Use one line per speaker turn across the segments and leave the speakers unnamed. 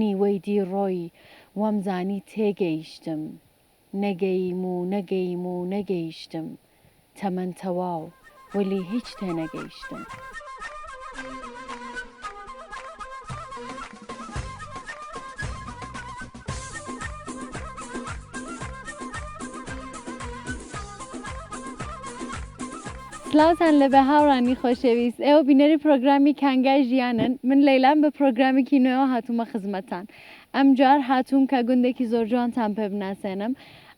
نیوەی دی ڕۆی وەمزانی تێگەیشتم نەگەیم و نەگەیم و نەگەیشتم تەمەن تەواو وەلی هیچ تێنەگەیشتم. سلاوتان لە بێ هاوڕانی خۆشەویست ئێوە بینەری پرۆگرامی کانگای ژیانن من لەیلام بە پرۆگرامێکی نوێوە هاتوومە خزمەتتان ئەم جار هاتووم کە گوندێکی زۆر جوانتان پێ بناسێنم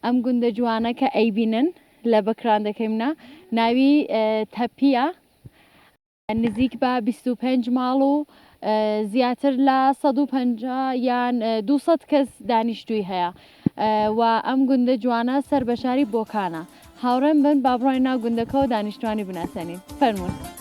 ئەم گوندە جوانە کە ئەیبینن لە بەکراندەکەیمنا ناوی تەپیە نزیک بە بیست و پێنج ماڵ و زیاتر لە سەد و پەنجا یان دوو سەد کەس دانیشتووی هەیە و ئەم گوندە جوانە سەر بە شاری بۆکانە هاوڕێم بن با بڕۆین ناو گوندەکەەوە دانیشتوانی بناسێنین فەرمونون.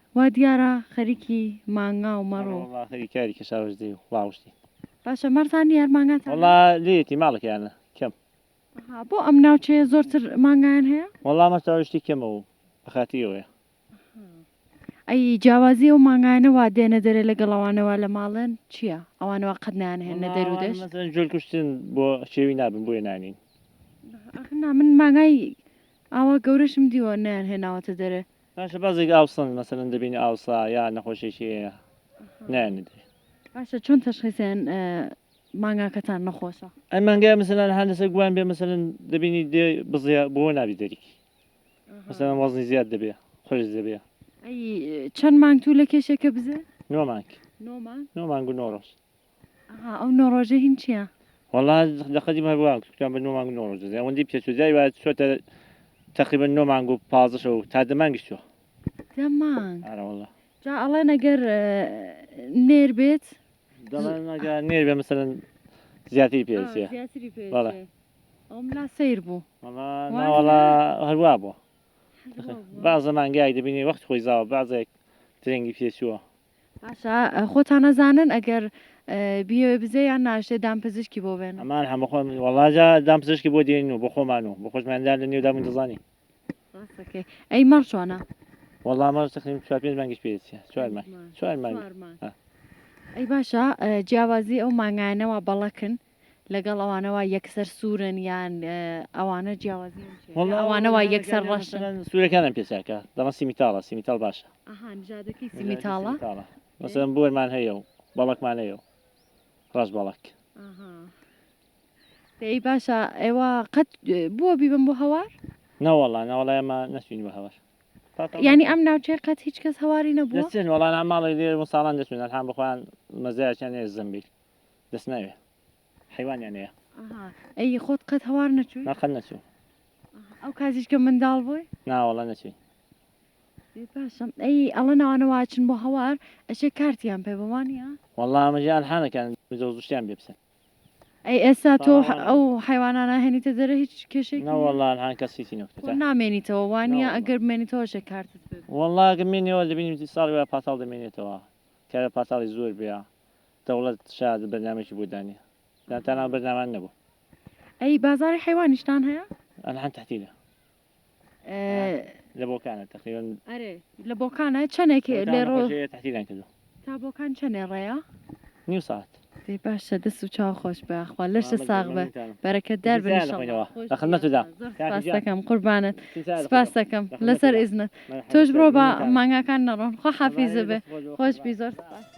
وا دیارە خەریکی مانگا و مەڕ و. وەڵا خەریکی کاری کەشاوەش
دەی و ڵاوشتی. باشە مەڕتان
نیە هەر مانگاتانە. وەڵا لێیەتی
ماڵێکیانە کەم. ئەها بۆ ئەم
ناوچەیە زۆرتر مانگایان هەیە؟ وەڵا مەڕ تاوشتی
کەمە و بەخاتری ئەوەیە. ئەها
ئەی جیاوازی ئەو مانگایانە وا دێنە دەرێ لەگەڵ ئەوانە وا لە ماڵن چیە ئەوانە وا قەت نایان هێننە دەر و دەشت؟ وەڵا ئەوانە مەسەلەن جۆل کوشتن
بۆ کێوی نابن بۆیە نانین. ئەخر نا
من مانگای ئاوا گەورەشم دیوە نەیان هێناوەتە دەرێ. باشە بازێک ئاو
سەند مەسەلەن دەبینی ئاوسا یا نەخۆشێکی هەیە نایەنە درێ باشە چۆن
تەشخیسێن مانگاکەتان نەخۆشە ئەم مانگای مەسەلەن
هەر لەسەر گوان بێ مەسەلەن دەبینی دێ بزیە بۆ نابی دەریکی مەسەلەن وەزنی زیاد دەبێ خۆش دەبێ ئەی
چەند مانگ تو لە کێشێکە بزێ نۆ مانگ
نۆ مانگ نۆ مانگ
و نۆ ڕۆژ
ئەها ئەو نۆ
ڕۆژە هین چییە؟ وەڵا لە
قەدیم هەر وا گوتوویان بە نۆ مانگ و نۆ ڕۆژ دەزانی ئەوەندەی پێچ و جای وایە چووەتە تەقریبەن نۆ مانگ و پازدە شەو تا دە مانگیش چووە دە مانگ
ئارە وەڵا
جا ئەڵێن ئەگەر
نێر بێت دەڵێن ئەگە
نێر بێ مەسەلەن زیاتری پێ ئا، دەچێ زیاتری پێ بەڵێ. دەچێ. ئەوم لا
سەیر بوو وەڵا وای نا وەڵا
لە- هەروا بووە بازە مانگایەک دەبینی وەخت خۆی زاوە بازێک درەنگی پێچووە باشە
خۆتان ئەزانن ئەگەر بیەوێ بزێ یان ناشێ دامپزیشکی بۆ بێن ئەمان هەمە خۆ وەڵاجا
دامپزیشکی بۆ دێنین و بۆ خۆمان و بۆ خۆشماندا لە نێودا من دەزانین ئەی
مەڕ چۆنە وەڵا مەڕ
تقریم چوار پێنج مانگیش پێ چوار مانگ چوار مانگ ئەی
باشە جیاوازی ئەو مانگانەوە بەڵەکن لەگەڵ ئەوانە وا یەکسەر سوورن یان ئەوانە جیاوازی ئەوانە وا یەکسەر ڕەش سوورەکانم پێچاکە
دەڵە سیمیتاڵە سیمیتال باشە
سیمیتاڵە مەسەن
بۆرمان هەیە و بەڵکمان هەیە و ڕاش بەڵک
دەی باشە ئێوە قەت بۆ بیبم بۆ هەوار ناوەڵا ناوەڵای
ئەمە نەچین بە هەوار ینی ئەم
ناوچەی قەت هیچ کەس هەواری نەبوو وڵان ماڵی لێ
ساڵان دەچێن هەم بخوان مەزایان زمبیل دەست ناوێ حەیوانیان هەیە. ئەها ئەی خۆت
قەت هەوار نەچووی؟ نا قەت نەچووم.
ئەها ئەو
کاتیش کە منداڵ بووی؟ نا وەڵا نەچووین.
ئێ
باشە ئەی ئەڵەن ئەوانە وا ئەچن بۆ هەوار ئەشێ کارتیان پێ بێ وا نییە؟ وەڵا ئەمە جێ
ئەلحانەکان مزە و زشتیان بێ بسن. ئەی ئێستا
تۆ ئەو حەیوانانە ئەهێنیتە دەرێ هیچ کێشەیەکی نییە؟ نا وەڵا ئەلحان کەس
هیچی نەکوتە. خۆ نامێنیتەوە وا نییە
ئەگەر بمێنیتەوە ئەشێ کارتت پێ بێ. وەڵا ئەگەر بمێنیەوە
دەبینی ساڵی وایە پاتاڵ دەمێنێتەوە کارە پاتاڵی زۆر بێ دەوڵەت شاد بەرنامەیەکی بۆ دانێ دا تا ناو بەرنامان نەبوو. ئەی
بازاری حەیوانیشتان هەیە؟ ئەلحان تحتیلە
لە بۆکانە تقریبا ئەرێ لە
بۆکانە چەندێک لێ ڕۆ تحتیلان کردو
تا بۆکان چەندێ
ڕێە؟ نیو ساعت
دەی باشە دەست
و چاو خۆش بەخوا لەشە ساغ بە بەرەکەت دار بنیشەوە لە خدمەتدا
سپاسەکەم
قوربانت سپاسەکەم لەسەر ئیزنت تۆش بڕۆ بە مانگاکان نەڕۆن خۆ حافیزە بێ خۆش بی زۆر سپاس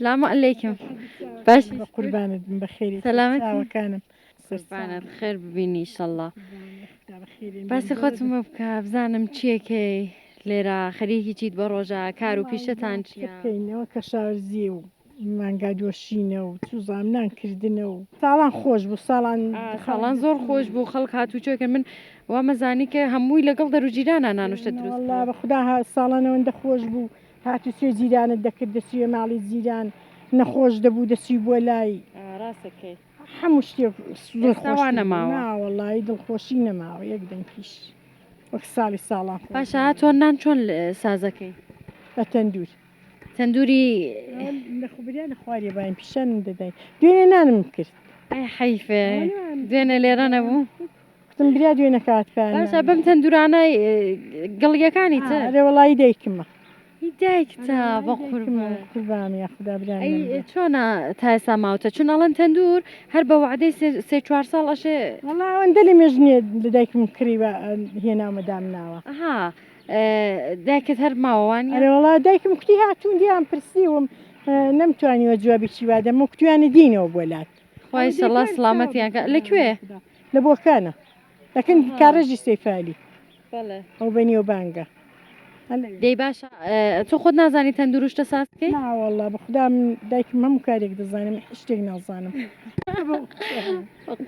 سلام علیکم باش بە قوربانت بم
بەخێری سەلامەت چاوەکانم قوربانت
خێر ببینی ئیشەڵڵا
باسی خۆتم بۆ
بکە بزانم چیەکەی لێرە خەریکی چیت بە ڕۆژە کار و پیشەتان چیەکەینەوە کە
شارزی و مانگا دۆشینە و چوزاننان کردنە و ساڵان خۆش بوو ساڵان خاڵان زۆر
خۆش بوو خەڵک هات و چۆکە من وامەزانی کە هەمووی لەگەڵ دەروجیرانە نانوشتە دروست بە خوددا
ساڵانەوەندە خۆش بوو هاتو چۆی جیرانت دەکرد دەچویە ماڵی جیران نەخۆش دەبوو دەچوی بۆ لای ڕاسەکەی
هەموو شتێک
زۆر خۆش نەماوە
وڵی دڵخۆشی
نەماوە یەک دەنگیش وەک ساڵی ساڵان پاشا تۆ نان چۆن
سازەکەی بە تەندور
تەندوری لەخبریا لە خوارێ باین پیشانم دەدای دوێنێ نانم کرد حیفێ
دوێنێ لێرە نەبوو کتم بریا
دوێ نەکات باشە بم تەندورانای
گڵیەکانی تە لە وڵی دایکمە
دایکتا
بە قوربانە
خدا چۆنا
تاسا ماوتە چون ئەڵەن تەندور هەر بە وعدەی سێ چوار ساڵ ئەشێ وڵاوەندە لە
مێژنێ دایکم کڕیوە هێناومەدام ناوە ها
دایکت هەر ماوەوان وڵا دایکم کوتی
هاتوون دیان پرسیوم نەمتوانیوە جوابی چی وادەمە کوتویانە دینەوە بۆ لات خوای شەڵا
سڵامەتیان کە لە کوێ لە بۆکانە
دەکەن کارێژی سەیفالی
ئەو بە نێو بانگە
دەی
باش تۆ خۆت نازانی تەندروشتە ساسکەی ناوەڵا بەخدام
دایکم هەموو کارێک دەزانم شتێک نازانم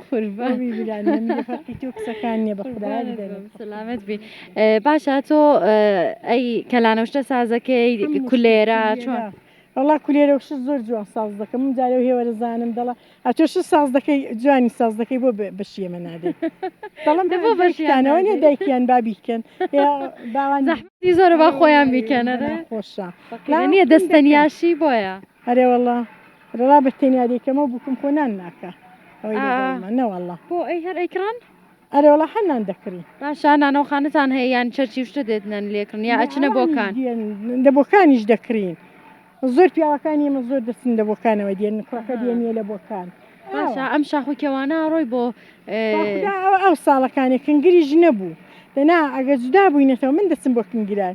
قوربانەکان نیە بەخدا سلامت
بی باشە تۆ ئەی کەلانەشتە سازەکەی کولێرا چۆن وەڵا کولێرەو
شت زۆر جوان ساز دەکەم من جارێ هێوەرە زانم دەڵا ئەتۆ شت ساز دەکەی جوانی ساز دەکەی بۆ بەشی ئێمە نادەی دەڵم بۆ بەشیانەوە نیە دایکیان بابی بکەن باوان زەحمەتی زۆرە با
خۆیان بیکەن ئەرێ خۆشە
نیە
دەستەنیاشی بۆیە ئەرێ وەڵا
ڕڵا بە تەنیا دەیکەمەوە بکم خۆ نان ناکە ئەوەی نەوەڵا بۆ ئەی هەر ئەیکڕان
ئەرێ وەڵا حەنان
دەکڕی باشە نانەوەخانتان
هەیە یان چەرچی و شتە دێتنەن لێکڕن یا ئەچنە بۆکان دە بۆکانیش
دەکرین زۆر پیاوەکانی ئمە زۆر دەستن دە بۆکانەوە دێن کوڕەکە دێنە لە بۆکان باشە ئەم شاخ
و کێوانە ڕۆی بۆ
ئەو ساڵەکانی کنگریش نەبوو دەنا ئەگە جودا بووینەتەوە من دەچم بۆ کنگران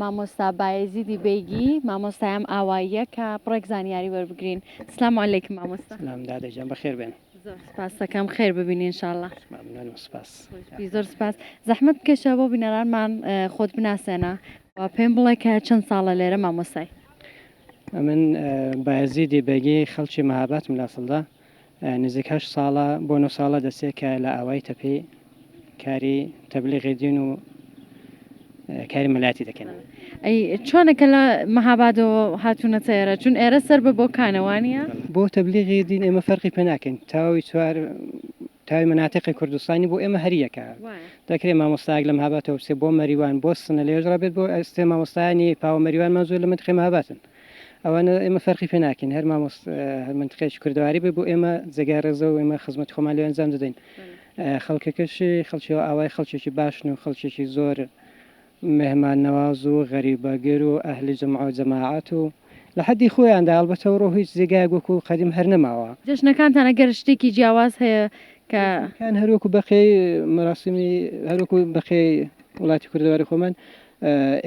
مامۆستا بایزیدی بەیگی مامۆستایەم ئاواییە کە بڕێک زانیاری وەربگرین سلام و علیکم مامۆستا سلام دادەجان بەخێر بێن
زۆر سپاسەکەم
خێر ببین انشاءاللە ممنون و سپاس
زۆر سپاس
زەحمت بکەشە بۆ بینەرانمان خۆت بناسێنە و پێم بڵێ کە چەند ساڵە لێرە مامۆسای ئەمن
بایزیدی بەگی خەڵکی مەهاباتم لاسڵدا نزیک هەشت ساڵە بۆ نۆ ساڵە دەچێت کە لە ئاوایی تەپێ کاری تەبلیغی دین و کاری مەلایەتی دەکەن. ئەی چۆنە
کە لە مەهابادەوە هاتوونەتە ئێرە؟ چون ئێرە سەر بە بۆکانە وانییە؟ بۆ تەبلیغی
دین ئێمە فەرقی پێ ناکەین، تەواوی چوار تاوی مناتقی کوردستانی بۆ ئێمە هەر یەکە دەکرێ مامۆستایەک لە مهاباتەوە بچێ بۆ مەریوان بۆ سنە لێژ ڕابێت بۆ ئەستێ مامۆستایانی پاوە مەریوانمان زۆر لە منتقی مهاباتن ئەوانە ئێمە فەرقی پێ ناکەین هەر مامۆست هەر منتقێکی کوردەواری بێ بۆ ئێمە جێگای ڕێزە و ئێمە خزمەت خۆمان لێ ئەنجام دەدەین خەڵکەکەشی خەڵکیەوە ئاوای خەڵکێکی باشن و خەڵکێکی زۆر مێهمان نەواز و غەریبەگر و ئەهلی جومعە و جەماعەت و لە حەدی خۆیاندا ئەڵبەتە ئەوڕۆ هیچ جێگایەک وەکوو قەدیم هەر نەماوە. جەژنەکانتان ئەگەر
شتێکی جیاواز هەیە کە. جەژنەکان هەر وەکوو بەقیەی
مەراسیمی هەر وەکوو بەقیەی وڵاتی کوردەواری خۆمان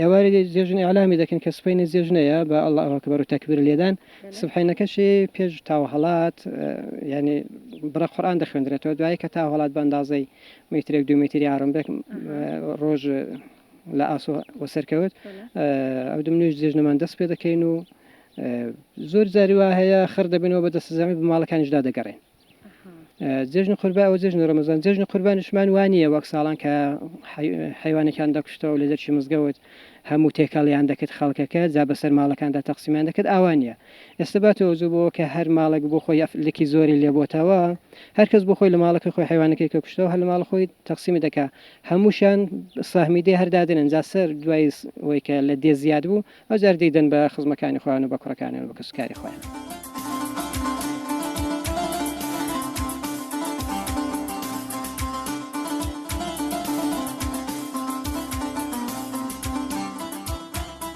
ئێوارێ جێژن ئیعلامی دەکەن کە سبەینێ جێژنەیە بە اللە اکبر و تەکبیر لێدان سبحەینەکەشی پێش تاوهەڵات یانی بڕە قورئان دەخوێندرێتەوە دوایی کە تاوهەڵات بە ئەندازەی میترێک دوو میتری ئارم بێک ڕۆژ لە ئاسۆ وەسەرکەوت ئەو دم نوێژ جێژنەمان دەست پێ دەکەین و زۆر جاری وا هەیە خڕ دەبنەوە بە دەستزانانی بماڵەکانیشدا دەگەڕێن جژن قوربا ئەو جژن ڕمەزان جژن قوربانشمان وانە وەک ساڵان کە حیوانەکان دەکشتەوە لە دەرچی مزگەوت هەموو تێکەڵیان دەکرد خەڵکەکە جا بەسەر ماڵەکاندا تەقسیمان دەکرد ئاوانە ئێستا با تۆزوو بۆ کە هەر ماڵێک بۆ خۆی ئەف لکی زۆری لێ بۆتەوە هەر کەس بۆ خۆی لە ماڵەکەی خۆی حەیوانەکەی کە کوشتەوە هەر لە ماڵ خۆی تەقسیمی دەکا هەمووشان سەهمی دێ هەر دادەنێن جا سەر دوای ئەوەی کە لە دێ زیاد بوو ئەو جار دەیدەن بە خزمەکانی خۆیان و بە کوڕەکانیان و بە کەسوکاری خۆیان.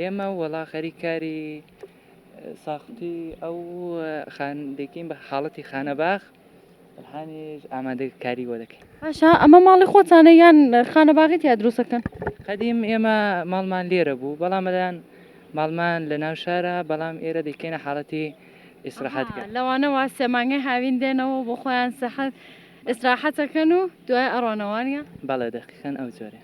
ئێمە وەڵا
غەری کاری ساختی ئەو خان دەکەین بە حاڵەتی خانەباخ هەنیش ئامادە کاری وە دەکەین باشە ئەمە ماڵی
خۆتانە یان خانە باغی تیا دروستەکەن قدیم ئێمە
ماڵمان لێرە بوو بەڵام مەدان ماڵمان لە ناو شارە بەڵام ئێرە دەکەینە حاڵەتی ئیسراحەتکە لەوانەوە
سێمانگەی هاوین دێنەوە بۆ خۆیان سەحەت ئیسراحەتەکەن و دوای ئەڕۆنەوانە بەڵێ دەقیقەن
ئەو جۆرێ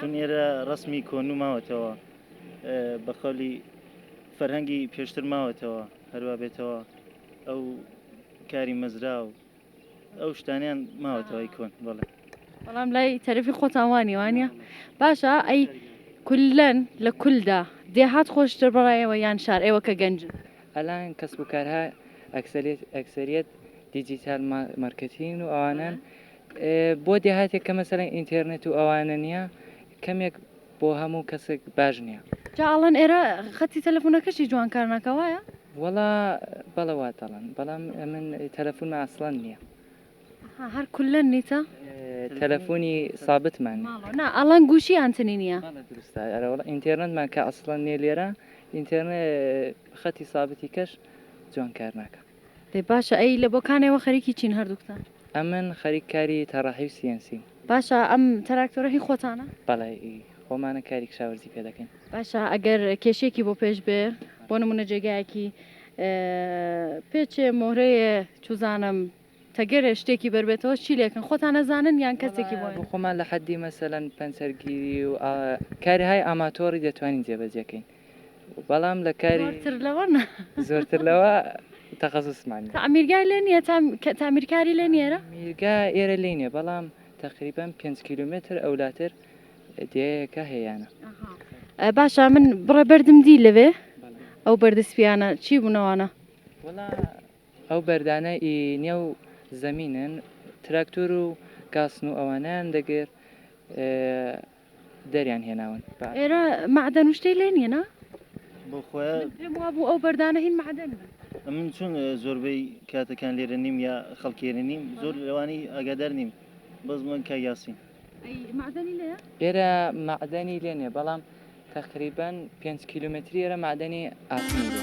چون ئێرە ڕەسمی کۆنو ماوەتەوە بە قەولی فەرهەنگی پێشتر ماوەتەوە هەروە بێتەوە ئەو کاری مەزرا و ئەو شتانیان ماوەتەوەی کۆن بەڵێ بەڵام لای
تەرەفی خۆتانوانی وانە باشە ئەی کولەن لە کولدا دێهات خۆشتر بەڕایەوە یان شار ئێوە کە گەنج ئەلان کەس و
کارها ئەکسریت ئەکسریت دیجیتال مارکتین و ئەوانن بۆ دێهاتێک کە مەسەلەن ئینتێرنێت و ئەوانە نیە کەمێک بۆ هەموو کەسێک باش نیە. جا ئەڵێن ئێرە
خەتی تەلەفونەکەشی جوان کار ناکا وایە؟ وەڵا
بەڵێ وا دەڵێن بەڵام ئەمن تەلەفونمە ئەسڵەن نیە. ها هەر
کوللەن نیتە؟ تەلەفونی
سابتمان نیە. ماڵەوە نا ئەڵێن
گووشی ئانتنی نیە. بەڵێ دروستە ئەرە وەڵا
ئینتێرنێتمان کە ئەسڵەن نیە لێرە ئینتێرنێ خەتی سابتی کەش جوان کار ناکا. ئێ باشە ئەی
لە بۆکانێ وە خەریکی چین هەردووکتان؟ ئەمن خەریک
کاری تەڕەحی و سیەنسیم. باشە ئەم
تراکتۆرە هی خۆتانە؟ بەڵێ ئی
خۆمانە کاری کشاوەرزی پێ دەکەین. باشە ئەگەر
کێشەیەکی بۆ پێش بێ بۆ نمونە جێگایەکی پێچێ مۆرەێ چوزانم تەگەرێ شتێکی بەر بێتەوە چی لێکن خۆتان ئەزانن یان کەسێکی بۆ بۆ خۆمان لە حەدی
مەسەلەن پەنچەرگیری و کارهای ئاماتۆڕی دەتوانین جێبەجێ کەین. بەڵام لە کاری زۆرتر لەوە نا
زۆرتر لەوە
تەخەسوسمان نیە. تەعمیرگای لێ
نیە تا کە تەعمیرکاری لێ نیەرە؟ میرگا ئێرە لێ
نیە بەڵام تەقریبەن پێنج کیلۆمێتر ئەولاتر دێیەکە هێیانە. ئە باشە
من بڕە بەردم دی لەوێ بەڵێ ئەو بەردە سپیانە چی بوون ئەوانە؟ وەڵا
ئەو بەردانە ئی نێو زەمینن تراکتۆر و گاسن و ئەوانەیان دەگرت ئێ. دەریان هێناون بە ئێرە مەعدەن
و شتەی لێ نییە نا؟ بۆ خۆیان
من پێم وابوو ئەو بەردانە
هین مەعدەن بن من چون
زۆربەی کاتەکان لێرە نیم یا خەڵکێرە نیم زۆر لەوانی ئاگادار نیم بەس من کە یاسین ئەی
مەعدەنی لێیە؟ ئێرە
مەعدەنی لێ نییە بەڵام تەقریبەن پێنج کیلومتری ئێرە مەعدەنی ئاسنی لێ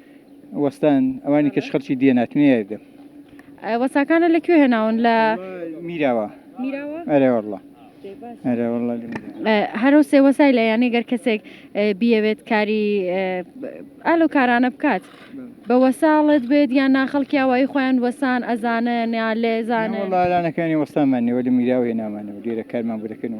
وەستان ئەوانی کەش خەرچی دیە ناتمێ یاردەم
وەساکانە لە کوێ هێناون لە میراوە ئەرێوەڵە
هەرو سێ
وەسای لە یانەی گەر کەسێک بیەوێت کاری ئالو کارانە بکات بە وەساڵت بێت یان ناخەڵکی ئەوەی خۆیان وەسان ئەزانە نیا لێزانە لەلانەکانی
وەستامانەوە لە میراوە هێنامانەوە لێرە کارمان بەکەن و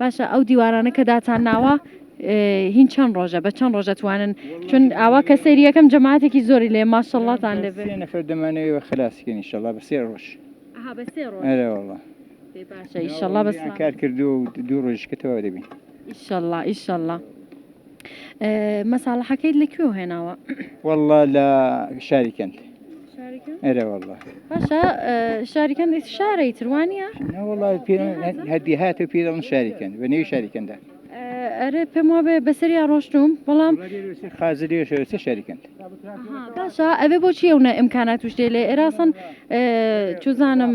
باشە ئەو
دیوارانە کە داتان ناوە هین چەند ڕۆژە بە چەند ڕۆژە توانن چون ئاوا کە سەیری یەکەم جەماعاتێکی زۆری لێ ماشەڵڵاتان لێ بێ سێ نەفەر دەمانەوێ بە
خلاصکەین انشاءالله بە سێ ڕۆژ ها بە سێ ڕۆژ ئەرێ والله بێ باشە ئیشەڵڵا بە
سڵامەت کار کردو
و دوو ڕۆژ کە تەواو
دەبین
ئیشەڵڵا ئیشەڵڵا
مەساڵەحەکەیت لە کوێوە هێناوە؟ واللە لە
شاری کەند
ئەرە واللە
باشە
شاری کەند شارەی تروانە وڵی پێ
هەدی هات و پێ دەڵم شاری کەند بە نێوی شاری کەندا ئەرێ پێم
وابێ بەسەریا ڕۆشتوم بەڵام خازر لێشەوەسە
شاری کەند باشە
ئەبێ بۆچی ئەوە ئەمکانات توشتێ لێ ئێراسن چزانم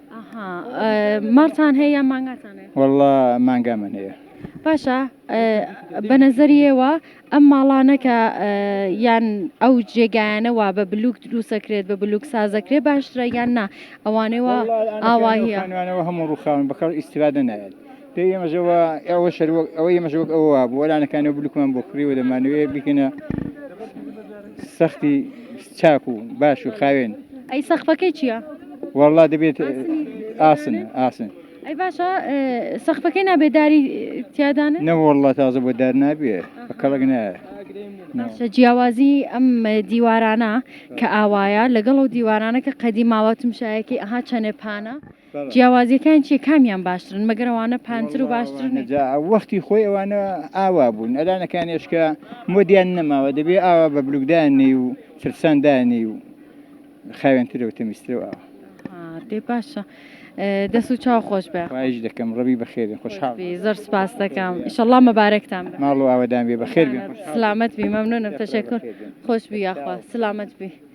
ماڵتان
هەیە یان مانگاتان هەیە؟ وەڵڵا مانگامان
هەیە. باشە
بە نەزەریەوە ئەم ماڵانە کە یان ئەو جێگایانە وا بە بلوک دروسەکرێت بە بلوک سازەکرێ باشترە یان نا ئەوانەوە ئاواهیانوانەوە هەموو ڕوخاون
بەکەڵ ئیسرادە نایێت پێی ئێمەژەوە ئەوە شەر ئەوە ئێمەژەوەک ئەوە بۆ لانەکانەوە بلوکمان بۆ کڕیوە دەمانوێ بکەنە سەختی چاک و باش و خاوێن ئەی سەخفەکەی
چییە؟ وەڵا دەبێت
ئاسن ئاسن. ئەی باشە
سەخفەکەی نابێت داری تیادان نەوەله تازە
بۆ دار نابێ بە کەڵک نایە باشە
جیاوازی ئەم دیوارانە کە ئاوایە لەگەڵ و دیوارانە کە قەدی ماوەتم شایەکی ئەها چەنێ پانە جیاوازیەکان چیە کامیان باشترن مەگەر ئەوانە پانتر و باشترن؟ واللە ئەوانە جا وەختی خۆی
ئەوانە ئاوا بوون ئەلانەکانێش کە مۆدیان نەماوە دەبێ ئاوا بە بلوک دانێی و چرپسان دانێی و خاوێنترە و تەمیزترە و ئاوا ئا دەی
باشە دەست و چاو خۆش بێ خواهش دەکەم ڕەبی
بەخێرێ خوشحاڵ بی زۆر سپاس دەکەم
ئیشەڵڵا مەبارەکتان بێ ماڵ و ئاوەدان بێ بەخێر
بێن خوشحاڵ سلامەت بی مەمنونم
تەشەکور خۆش بی یاخوا سلامەت بی.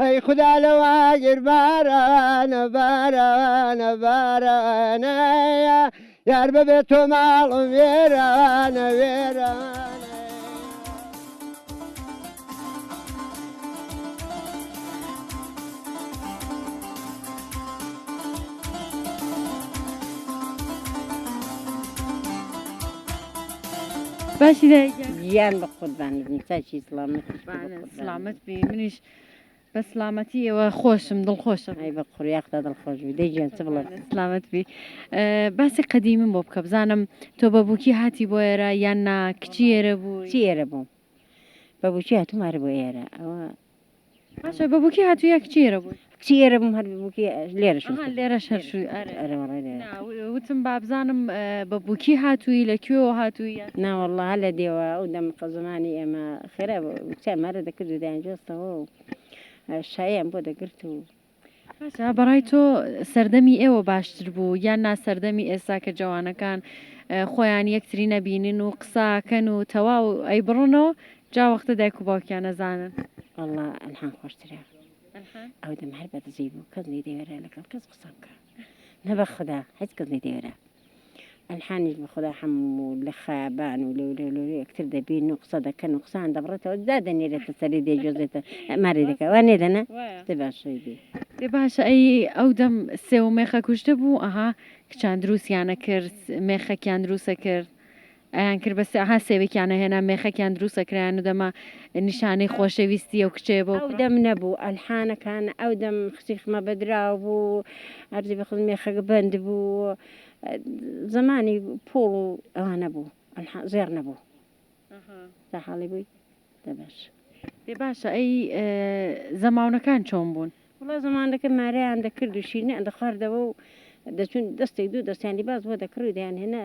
ئەی خودا لەوە گیر بارانە بارانە بارانە یار بەبێ تۆ ماڵم وێرانە وێرانە باشی دایە گیان بە قوربانت بم چاکی سڵامەتیش بە قوربانت.
سلامت
بی منیش بە سلامەتی ئێوە خۆشم دڵخۆشم ئەی بە قڕیاقدا
دڵخۆش بی دەیگیان چ بڵێ سلامت بی
باسی قەدیمم بۆ بکە بزانم تۆ بە بووکی هاتی بۆ ئێرە یان نا کچی ئێرە بوو چی ئێرە بووم
بە بچی هاتومارە بۆ ئێرە ئەوە باشە
بە بووکی هاتوو یا کچی ئێرە بوو کچی ئێرە بووم هەر بووکی
لێرەش ئەها وتم. لێرەش هەر شووی
ئەرێ ئەرێ وەڕای لێرە. نا و- وتم با بزانم ئە، بە بووکی هاتووی لە کوێوە هاتووی یان. نا وەڵڵا هەر لە
دێوە ئەو دەم قە زمانی ئێمە خێرا بوو کچان مارە دەکرد و دەیانجووەستەوە و ئە، شایەیان بۆ دەگرت و. باشە بە
ڕای تۆ سەردەمی ئێوە باشتر بوو یان نا سەردەمی ئێستا کە جەوانەکان ئە، خۆیان یەکتری نەبینن و قسە کەن و تەواو ئەیبڕنەوە جا وەختە دایک و باوکیان ئەزانن. وەڵڵا ئەلحان
خۆشترە. ئەو دەم هەر بە دزی بوو کەس نەیدەوێرا لەگەڵ کەس قسە بکا نە بە خودا هیچ کەس نەیدەوێرا ئەلحانیش بە خودا هەموو لە خەیابان و لەو لەو لەو یەکتر دەبین و قسە دەکەن و قسەیان دەبڕێتەوە دادەنێرێتە سەری دەیگوێزێتە مارێ دەکا وا نێ دەنا دە باشەی بێ دێ باشە
ئەی ئەو دەم سێو مێخە کوشتە بوو ئەها کچان دروستیانە کرد مێخەکیان دروستە کرد ئەیان کرد بەس ها سێوێکیان ئەهێنا مێخەکیان دروست ئەکرایان و دەما نیشانەی خۆشەویستی ئەو کچەیە بۆ ئەو دەم نەبوو
ئەلحانەکان ئەو دەم خشیخمە بەدراو بوو ئەرزی بەخڵ مێخەکە بەند بوو زمانی پۆڵ و ئەوانە بوو ئەلحان زێڕ نەبوو تا حاڵی بووی دەبەش پێ باشە
ئەی زەماونەکان چۆن بوون وڵا زمانەکە
مارەیان دەکرد و شیرنیان دەخواردەوە و دەچون دەستێک دوو دەستیان لیباس بۆ دەکڕی و دەیان هێنا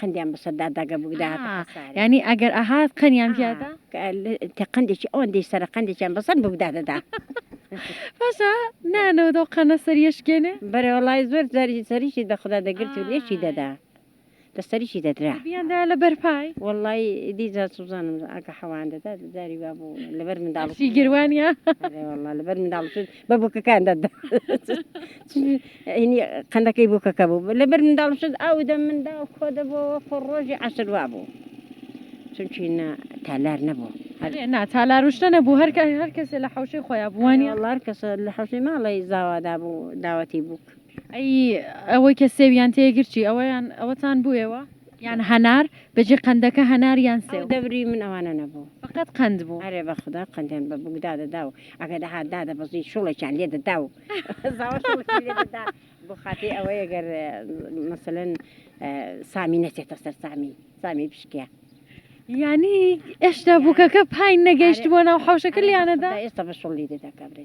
قندیان بەسەر داداگە بوودا یعنی ئەگەر
ئەهات قەنیان پیادا
قندێکی ئەوەن دی سەر قندێکیان بەسەر بوودا دەدا باشە
نانەوە دەو قەنە سەریشکێنێ بەرەوەڵای زۆر
جاری سەریشی دەخدا دەگرت و لێکی دەدا لە سەریشی دەدرا بیاندا لە بەرپای
وڵی دیجا
سوزانم ئەگە حەوان دەدا جاری وا بوو لەبەر منداڵی گروانە
لەبەر
منداڵ بە بووکەکان دەدا قەندەکەی بووکەکە بوو لەبەر منداڵ شت ئەو دە منداڵ خۆ دەبەوە خۆ ڕۆژی عسر وا بوو چونکی تالار نەبوو ناتالار
وشتە نەبوو هەرکە هەر کەسێ لە حوشەی خۆیان بووانی هەڵار کەسە لە
حوشەی ماڵی زاوادا بوو داوەتی بوو ئەی
ئەوەی کە سێو یان تێگر چی ئەوەیان ئەوەتان بوێوە یان هەنار بەجێ قەندەکە هەنار یان سێو ئەو دەوری من ئەوانە نەبوو
فقط قەند بوو
ئەرێ بەخودا قەندیان
بە بووک دادەدا و ئەگە دەهات دادەبەزی شڵێکیان لێ دەدا و زاوە شڵکی لێ دەدا بۆ خاتری ئەوەی ئەگەر مەسەلەن سامی نەچێتە سەر سامی سامی بشکێ
یانی ئێشتا بووکەکە پای نەگەیشتبووە ناو حەوشەکە لیانەدا ئێستا بە شڵی دەدا
کابرێ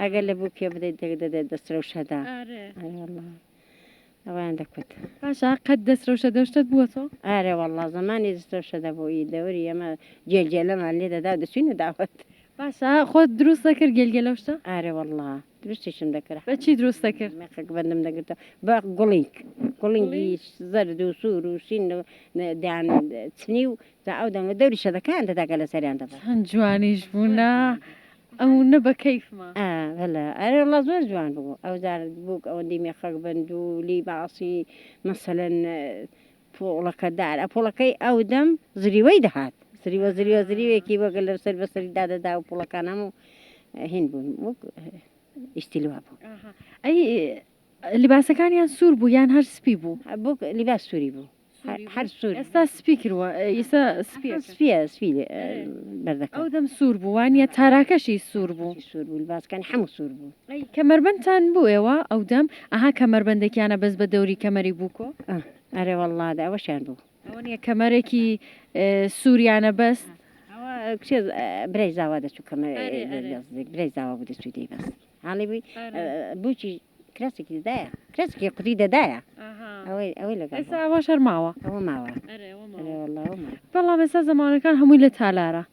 ئەگەر لە بووکێ بدەیت دەک دەدەێت دەست رەوشەدا ئەویان دەکوت پاشا قەت دەست
رەوشە دەشتت بووە تۆ ئارێ والله زمانی
دەست رەوشە دەبووی دەوری ئەمە جێلجێلەمان لێ دەدا دەچوینە داوت باشە خۆت
دروست دەکرد گەلگەلە شتە ئارێ والله
دروستیشم دەکرد بە چی دروست دەکرد
مێخەک بەندم دەگرتە
بە گوڵینگ گوڵینگی زەرد و سوور و شین دەیان چنی و تا ئەو دەنگە دەوری شەدەکان دەدا گەلە سەریان دەبا. چەند جوانیش بوو
نا ئەونە بە کەیفما. ئا بەلە ئەرێ
وەڵا زۆر جوان ببوو ئەو جار بووک ئەوەندی مێخەک بن دوو لی باسی مەسەلەن پۆڵەکە دار ئە پۆڵەکەی ئەو دەم زریوەی دەهات زریوە زریوە زریوێکی وەک لە سەر بە سەری دادەدا و پۆڵەکان هەموو هین بوون وەک ئیشتیلی وا بوو ئەی
لباسەکانیان سوور بوو یان هەر سپی بوو؟ بووک لیباس سووری
بوو. هەر سوور ئێستا سپی کردوە
ئیسا سپی سپی
سپی بەردەکە ئەو دەم سوور بوو
وانە تاراکەشی سوور بوو سوور بوو باسکەن هەموو
سوور بوو کەمەربەندتان
بوو ئێوە ئەو دەم ئەها کەمەربەندێکیانە بەس بە دەوری کەمەری بووکۆ ئەرێ والله
دا ئەوەشیان بوو ئەوەنە کەمەرێکی
سووریانە بەست کچێ
برای زاوا دەچوو کەمە برای زاوا بوو دەچوو دەی بەست حاڵی بووی بچی کراسێکی دەدایە کراسێکی قوتی دەدایە ئەوەی ئەوەی لەگەڵ ئێستا ئەوە شەر ماوە
ئەوە
ماوە
بەڵام ئێستا زمانەکان هەمووی لە تالارە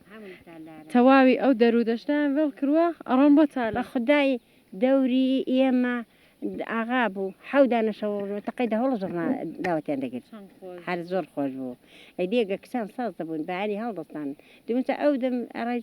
تەواوی ئەو دەرو دەشتیان وێڵ کردووە ئەڕۆن بۆ تالە خدای
دەوری ئێمە ئاغا بوو حەودانە شەوەڕۆ تەقەی دەهڵ زۆرما داوەتیان دەگرت هەر زۆر خۆش بوو ئەدیێگە کچان ساز دەبوون بەیانی هەڵدەستان دوچە ئەو دەم ئەڕای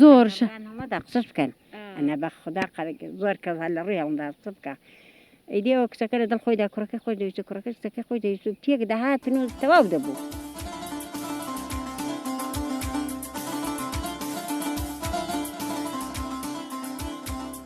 زۆر
شە. هەڵەدا قسە بکەن ئەنا بە خودا
قە
گۆر کە هە لە ڕوی هەڵمدا قسە بکە ئیدی ئەوە کچەکە لە دڵ خۆیدا کوڕەکەی خۆی دەویست کوڕەکە کچەکەی خۆی دەویست و تێک دەهاتن و تەواو دەبوو.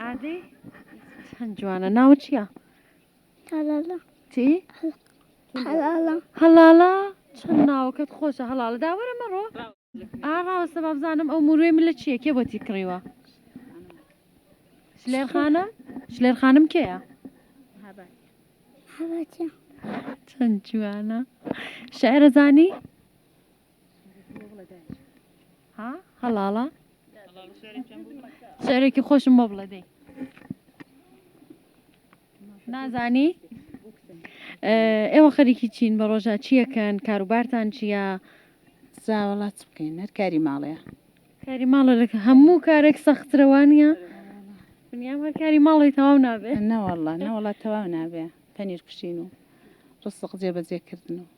ئادەی چەند جوانە ناوە چییە؟ هەڵاڵە
چی؟ هەڵاڵە هەڵاڵە
چەند ناوەکەت خۆشە هەڵاڵە داوەرە مەڕۆ ئاڕاوەسە بابزانم ئەو مروێ من لە چییە کێ بۆتی کڕیوە شلێر خانم شلێر خانم کێە؟
چەند
جوانە شعرەزانی؟ ها هەڵاڵە شعرێکی خۆشم بۆ بڵێ دەی نازانی ئێوە خەریکی چین بە ڕۆژە چیەکەن کاروبارتان چییە زاوەڵا
چ بکەین هەر کاری ماڵەیە کاری ماڵە
لە هەموو کارێک سەخترەوانە دنیام هەر کاری ماڵی تەواو نابێت نەوەڵە نەوەڵە
تەواو نابێ پەنیر کوشین و ڕسق جێبەجێکردن و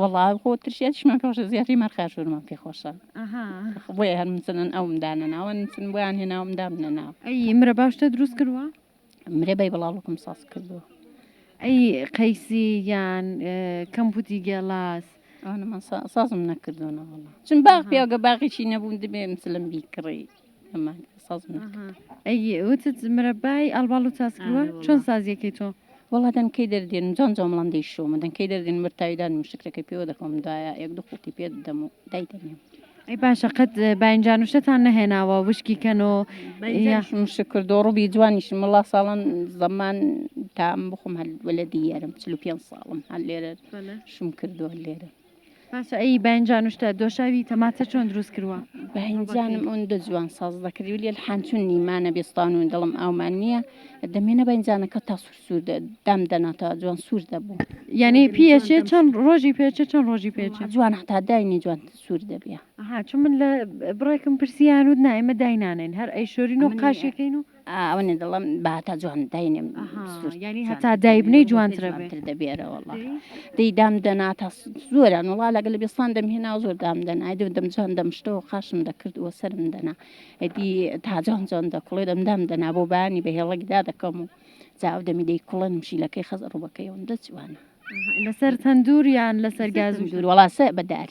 وەڵا خۆ
ترشێتشمان پێشە زیاتری مەرخاشورمان پێ خۆشە بۆیە هەر مسنن ئەوم دانەناوە نسن بۆیان هێناوم دامنەنا ئەی مرە باشتە
دروست کردوە مرێ بەی
بەڵاڵکم ساز کردووە ئەی
قەیسی یان کەمپوتی گێڵاس
سازم نەکردوەوەڵ چون باغ پیاگە باغیی نەبوون دەبێ مسلم بیکڕی ئەمان ساز من ئەها ئەی
وتت مرەبای ئەڵباڵ و تاسکوە آره والله. چۆن سازیەکەی تۆ وەڵا دەنکەی
دەردێن و جان جامڵان دەیشۆمە دەنکەی دەردێن بەر تاویدان و شکرەکەی پێوە دەخۆم دایە یەک دوو خوڵقی پێ دەدەم و دایدەنێم ئەی باشە
قەت اه، باینجانوشتتان نەهێناوە وشکی کەن و یا شم شکر
دۆڕوبی جوانیشم وڵا ساڵان زەمان تام بخۆم هەل وەلەدی یارم چل و پێنج ساڵم هەل لێرە بەلە شم کردووە لێرە باشە ئەی
بەنجان شتە دۆشاوی تەماتە چۆن دروست کردوە بەنجانم ئەون
دە جوان ساز دەکردی و لێ حانچون نیمانە بێستان و دڵم ئاومان نییە دەمێنە بەنجانەکە تا سوور سوور دام دەناتە جوان سوور دەبوو یعنی پێچێ
چەند ڕۆژی پێچێ چەند ڕۆژی پێچێ جوان هەتا داینی
جوان سوور دەبێ ها چون من لە
بڕێکم پرسییان و نایمە داینانین هەر ئەی شۆرین و قاشەکەین و ئەوەنێ دڵم
بە هەتا جوان داینێم یانی هەتا
دایبنەی جوانتر دەبێرە وڵ
دەی دام دەنا تا زۆران وڵا لەگە لە بستان دەمهێنا زۆر دام دەنا دو دەم جوان دەمشتەوە خاشم دەکرد وە سرم دەنا ئەدی تا جوان جوان دەکڵێ دەم دام دەنا بۆ بانی بە هێڵکدا دەکەم و جاو دەمی دەی کوڵن شیلەکەی خەز ڕوبەکەیەوەم دەچوانە
لەسەر
تەندوریان
لەسەر گاز
و دوور
وڵاسە
بەدار.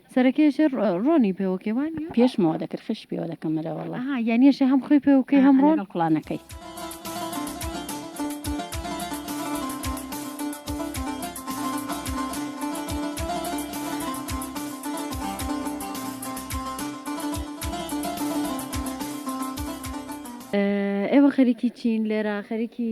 سەرەکەی ئەشێ ڕۆنی پێوەکێ وان پێشمەوە دەکرد خش
پێوە دەکەم مرەوەڵە یانیشە هەم خۆی
پێوکەی هەم ڕۆن کوڵانەکەی. ئێوە
خەریکی
چین لێرە خەریکی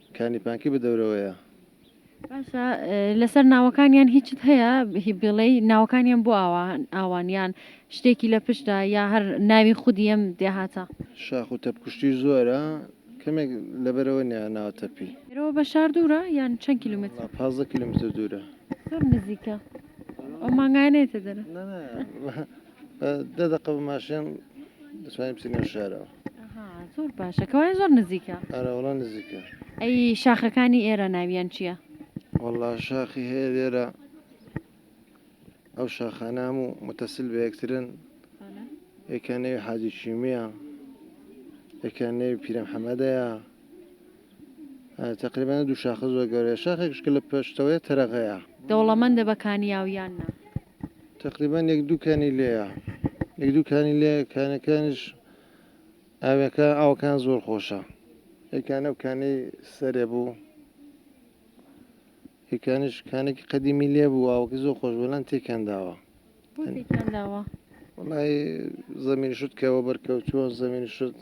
کانی پانکی بە دەورەوەیە. باشە
لەسەر ناوەکانیان هیچت هەیە هی بیڵێی ناوەکانیان بۆ ئاوا ئاوان یان شتێکی لە پشتدا یا هەر ناوی خودی ئەم دێهاتە؟ شاخ و تەپکوشتیش
زۆرە کەمێک لەبەرەوە نیە ناوە تەپی. لێرەوە بە شار دوورە
یان چەند کیلومترە؟ وەڵا پازدە کیلومتر
دوورە. زۆر نزیکە
ئەو مانگایە نێتە دەرە. نا نا
بە دە دەقە بە ماشێن دەتوانی بچی نێو شارەوە. ئەها زۆر
باشە کەوایە زۆر نزیکە ئەرە وەڵا نزیکە
ئەی
شاخەکانی ئێرە ناویان چییە؟ وەڵا
شاخی هەیە لێرە ئەو شاخانام و متەسل بە یەکترن یەکیان نەوی حاجی چیمیە یەکیان نەوی پیرەم حەمەدەیە تقریبانە دوو شاخە زۆر گەورەیە شاخێکشکە لە پێشتەوەیە تەرەغەیە دەوڵەمەندە بە
کانیاویان نا تەقریبەن
یەک دوو کانی لێیە یەک دوو کانی لێ کانەکانش ئاوەکە ئاوکان زۆر خۆشە یەکانە و کانەی سەرێ بوو یەکانش کانێکی قەدیمی لێ بوو ئاوەکە زۆر خۆش بەلان تێکان داوە وڵی زەمین شت کەەوە بەرکەوتووە زەمین شت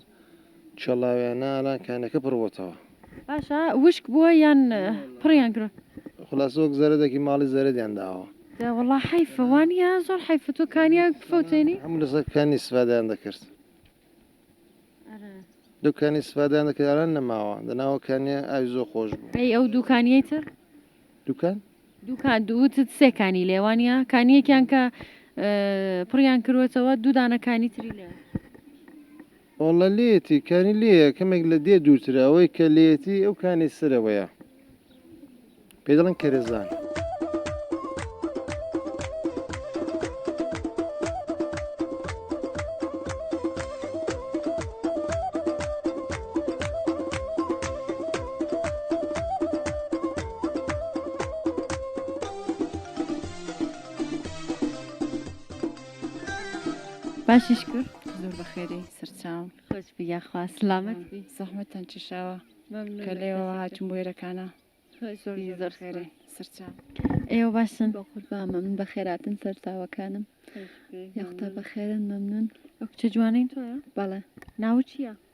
چڵاویانە ئالان کانەکە پڕ بۆتەوە. باشە
وشک بووە یان پڕیان کرۆ. خولاسە وەک
زەرەدەکی ماڵی زەرەدیان داوە. دە وەڵا حەیفە
وانیە زۆر حەیفە تۆ کانیاوێک بفەوتێنی. هەموو لەسەر کانی
سفادەیان دەکرد. لەو کانی سفادەیان دەکرد ئالان نەماوە دەناوە کانیە ئاوی زۆر خۆش بوو. ئەی ئەو دوو کانیەی تر.
دوکان؟
دوکان دوو
وتت سێ کانی لێ وانیە؟ کانیەکیان کە پڕیان کروەتەوە دوو دانە کانی تری لێ. وەڵا
لێتی کانی لێیە کەمێک لە دێ دوورترە ئەوەی کە لێتی ئەو کانی سەرەوەیە پێ دەڵێن کەرەزان.
باشیش کرد زۆر بەخێری
سەرچاو خۆش بیا خوا
سلامت بی زەحمەتان
چشاوە ممنون کە لێەوە هاتون بۆێرەکانە زۆر زۆر
خێری
سەرچاو ئێوە باشن
بە قوربا مەمن بە
خێراتن سەرچاوەکانم یاختا بە خێرن مەمنون ئەو کچە جوانین
تۆە بەڵێ ناو
چییە؟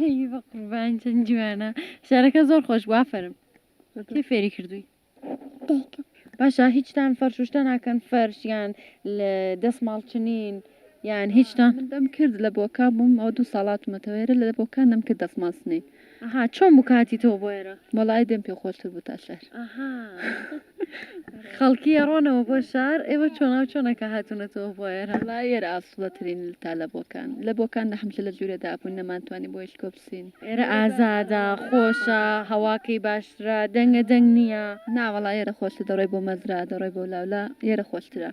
ئەی
بەقوربان چەند جوانە شارەکە زۆر خۆش بوو ئافەرم کێ فێری کردووی دایکم
باشە هیچتان
فەرشوشتە ناکەن فەرش یان لە دەست ماڵچنین یان هیچتان من دەم کرد لە
بۆکا بووم ئەو دوو ساڵاتمەتەوەێرە لە بۆکان دەم کرد دەسماسنین ئەها چۆن
بکاتی تۆ بۆێرە وەڵی دەم پێ خۆشتر
بوو تا شەر ئەها
خەڵکی ئەڕۆنەوە بۆ شار ئێوە چۆنا و چۆنەکە هاتوونەتەوە بۆ ئێرە لا ئێرە ئاسوڵەترین
تا لە بۆکان لە بۆکان نە حمشە لە جوورە دابوون نەمانتوانی بۆ یش کۆپسین ئێرە ئازادە
خۆشە هەواکەی باشترە دەنگە دەنگ نییە ناوەڵا ئێرە خۆش
دەڕۆی بۆ مەزرا دەڕۆی بۆ لاولا ئێرە خۆشترە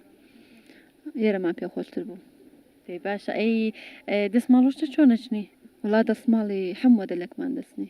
ئێرەمان پێ خۆشتر بوو باشە
ئەی دەستماڵۆشتە چۆنەچنی وڵا دەستماڵی
حەموە دەلەکمان دەستنی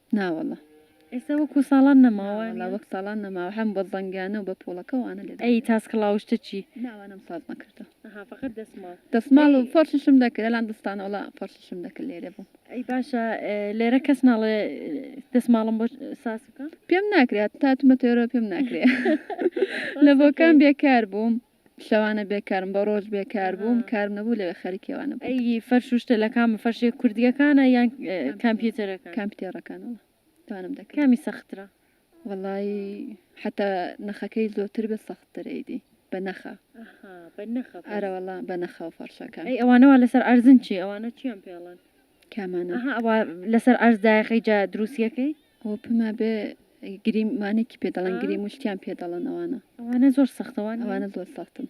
نا واللە
ئێستا وەکو
ساڵان نەماوە نا واللە وەک ساڵان نەماوە
هەم بە زەنگانە و بە پۆڵەکە و ئانە لێدان ئەی تاسک ڵاو شتە چی
نا وانەم ساز نەکردوە
ئەها فەقەت دەسماڵ
دەسماڵ و فەرششم
دەکرد ئەلان دەستانە وەڵا فەرششم دەکرد لێرە بووم ئەی باشە
لێرە کەس ناڵێ دەسماڵم بۆ ساز بکە پێم ناکرێت تا
تومەتێرۆ پێم ناکرێ لە بۆکان بێکار بووم شەوانە بێکارم بە ڕۆژ بێکار بووم کارم نەبوو لەوێ خەریکی ئەوانە بووم. ئەی فەرش و شتە لە کام
فەرشێ کوردیەکانە یان کامپیوتەرەکان؟ کامپیتێڕەکان وەڵا
دوانم دەکرد. کامی سەخترە؟
وەڵایی
حەتا نەخەکەی زۆتر بێت سەختتر ئەیدی بە نەخە ئەرەوەڵا بە نەخەوە فەڕشەکان. ئەی ئەوانە وا لەسەر
عەرزن چی ئەوانە چیان پێڵن. کامانە ئەها
ئەوە لەسەر
ئەرز دایخی جا دروستیەکەی ئەوە پما بێ
گریم مانێکی پێ دەڵن گری مشتیان پێ دەڵن ئەوانە ئەوانە زۆر
سەختەوان ئەوانە زۆر سەختن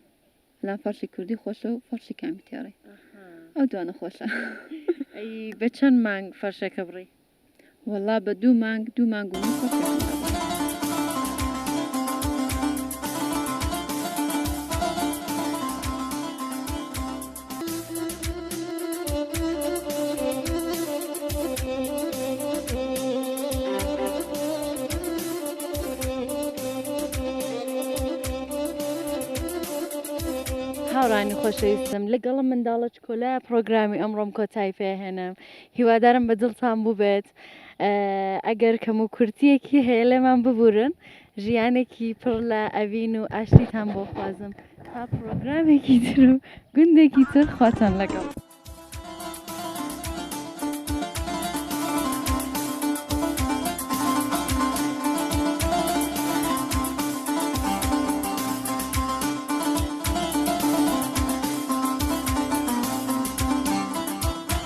لا فەرشی کوردی خۆشە و فەرشی کامی تێڕی ئەو دوانە خۆشە
بە چەند مانگ فەرشەکە بڕی وەڵا بە
دوو مانگ دوو مانگ و نیو پڕکەتم بە بەغدا.
هاوڕانی خۆشەویستم لەگەڵم منداڵە چکۆلایە پڕۆگرامی ئەمڕۆم کۆتایی پێ ئەهێنم هیوادارم بە دڵتان بووبێت ئەگەر کەم و کورتیەکی هەیە لێمان ببورن ژیانێکی پڕ لە ئەڤین و ئاشتیتان بۆ خوازم تا پرۆگرامێکی تر و گوندێکی تر خواتان لەگەڵ.